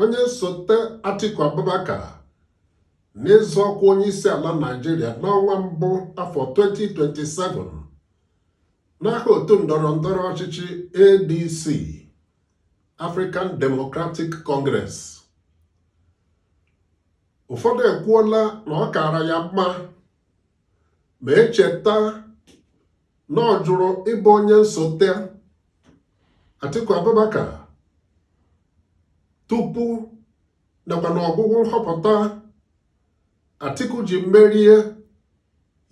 onye nsote Atiku Abubakar n'ịzọ ọkwa onye isi ala Naịjirịa n'ọnwa mbụ afọ 2027 n'aha otu ndọrọ ndọrọ ọchịchị ADC African Democratic Congress ụfọdụ ekwuola na ọ kaara ya mma ma e cheta na ọ jụrụ ịbụ onye nsote Atiku Abubakar tupu nakwa n'ọgwụgwụ nhọpụta Atiku ji merie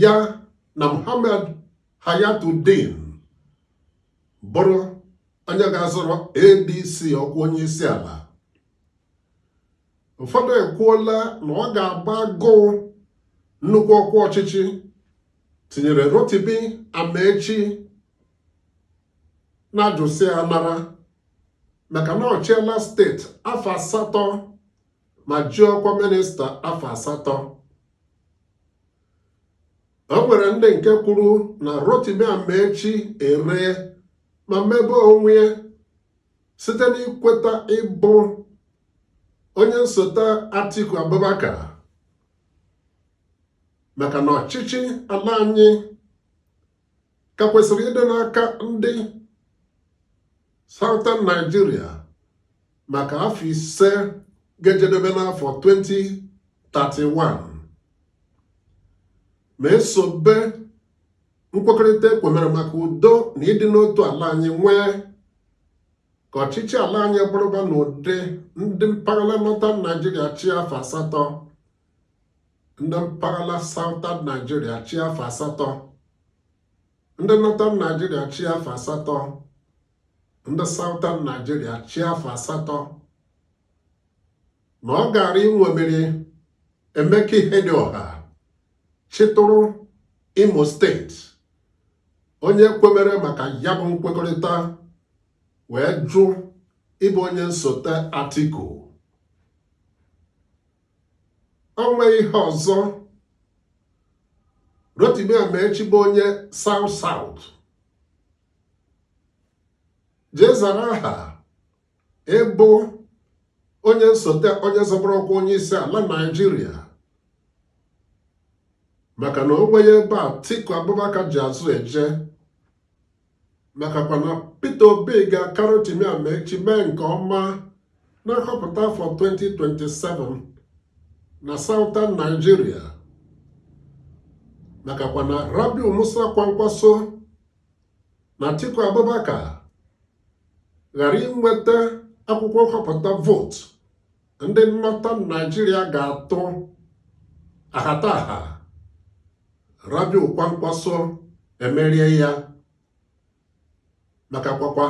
ya na Muhammad Hayatuddin bụrụ onye ga-azọrọ ADC ọkwa onye isi ala ụfọdụ ekwuola na ọ ga-abụ agụụ nnukwu ọkwa ọchịchị tinyere Rotimi Amaechi n'ajụsịa anara maka na ọ chịela steeti afọ asatọ ma ji ọkwa minista afọ asatọ o nwere ndị nke kwuru na Rotimi Amaechi eree ma mebie onwe ya site n'ikweta ịbụ onye nsote Atiku Abubakar maka na ọchịchị ala anyị ka kwesịrị ịdị n'aka ndị Southern Nigeria maka afọ ise ga-ejedebe n'afọ 2031 ma e sobe nkwekọrịta e kwemere maka udo na ịdị n'otu ala anyị nwee ka ọchịchị ala anyị bụrụba n'ụdị ndị mpaghara Northern Nigeria chịa afọ asatọ ndị mpaghara Southern Nigeria chịa afọ asatọ ndị Northern Nigeria chịa afọ asatọ ndị Southern Nigeria chịa afọ asatọ na ọ gaara iṅomiri Emeka Ihedioha chịtụrụ Imo steeti onye kwemere maka ya bụ nkwekọrịta wee jụ ịbụ onye nsote Atiku o nweghị ihe ọzọ Rotimi Amaechi bụ onye South South jee zara aha ịbụ onye nsote onye zọbara ọkwa onye isi ala Naịjirịa maka na o nweghị ebe Atiku Abubakar ji azụ eje makakwa na Peter Obi ga-aka Rotimi Amaechi mee nke ọma na nhọpụta afọ 2027 na Southern Nigeria makakwa na Rabiu Musa Kwankwaso na Atiku Abubakar ghara inweta akwụkwọ nhọpụta vootu ndị Northern Naijiria ga-atụ ahataha Rabiu Kwankwaso emerie ya maka kwakwa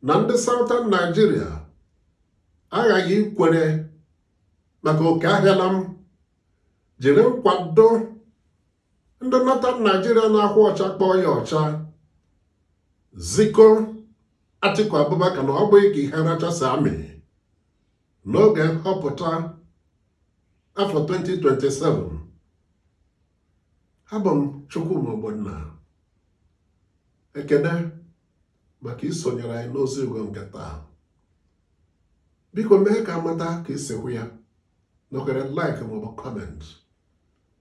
na ndị Southern Naijiria aghaghị ikwere maka oke ahịala m jiri nkwado ndị Northern Naijiria na-ahụ ọcha kpọọ ya ọcha ziko Atiku Abubakar na ọ bụghị ka ihe rachasị amị n'oge nhọpụta afọ 2027 abụ m Chukwuma Ogbonna ekene maka isonyere anyị n'ozi ugo nke taa biko mee ka a mata ka i si hụ ya nọkere like maọbụ comment